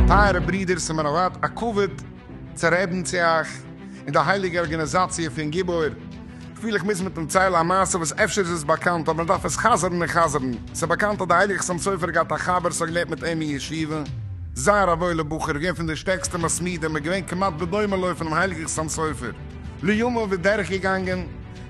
טייערע ברידער, ס'איז מיר א זייט א כבוד צו רעדן צו אייך אין די הייליגע ארגאניזאציע פון גיבור. כ'פיל איך מוז מיטן ציילן א מעשה וואס אפשר איז עס באקאנט אבער מ'דארף עס חזר'ן און חזר'ן. ס'איז באקאנט אז די הייליגע חתם סופר האט געהאט א חבר ס'האט געלערנט מיט אים אין ישיבה. זייער א וואוילע בחור, געווען פון די שטערקסטע מתמידים, איז געווען כמעט בדומה לו פונעם הייליגן חתם סופר. לימים איז דורך געגאנגען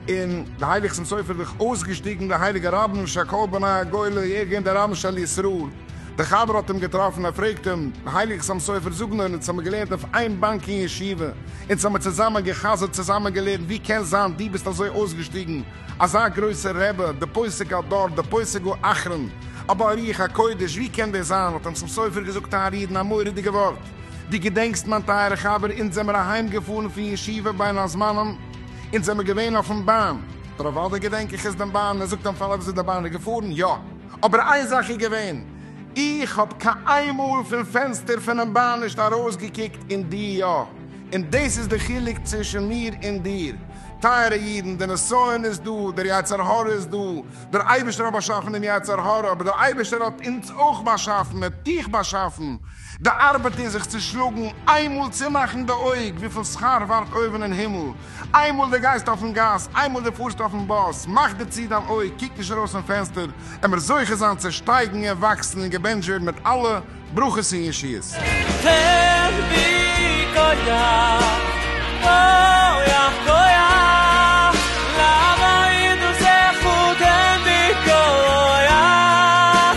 און די הייליגע חתם סופר זיך אויסגעשטיגן דער הייליגער רבן של כל בני הגולה, ער איז געווען דער רבן של ישראל. דער חבר האט אים געטראפן, ער פרעגט אים, די הייליגע סאם סופר זאגן נאר, אונז האמיר געלערנט אויף איין באנק אין ישיבה, אונז האמיר צוזאמען גע'חזר'ט, צוזאמען געלערנט, ווי קען זיין דו ביסט אזוי אויסגעשטיגן, אזא גרויסער רבי, די פוסק הדור, די פוסק האחרון, א בעל רוח הקודש, ווי קען דאס זיין? האט אים סאם סופר געזאגט א רעדן, א מורא'דיגע ווארט, דו געדענקסט מיין טייערע חבר, אונז זעמיר אהיים געפארן פון ישיבה בין הזמנים, אונז זעמיר געווען אויפן באן, דער אוודאי געדענק איך עס דעם באן, ער זאגט אים פארוואס איז די באן געפארן, יא. אבער איין זאך איז געווען, איך האב קיין איין מאל פון פענסטער פונעם באן נישט ארויסגעקוקט און דו יא, און דאס איז די חילוק צווישן מיר און דיר. טייערע אידן, דער נסיון איז דא, דער יצר הרע איז דא, דער אייבערשטער האט באשאפן דעם יצר הרע, אבער דער אייבערשטער האט אונז אויך באשאפן, ער האט דיך באשאפן, די ארבעט אין זיך צו שלאגן, איינמאל צומאכן די אויג, וויפיל שכר ווארט אויבן אין הימל, איינמאל די גייסט אויפן גאס, איינמאל די פארסט אויפן באס, מאך די צו דיין אויג, קוק נישט ארויס פון פענסטער, עמער זוכה זיין צו שטייגן און וואקסן און געבענטשט ווערן מיט אלע ברכות און ישועות. תן בי כח, כח, כח, לעבוד את דרכך, תן בי כח.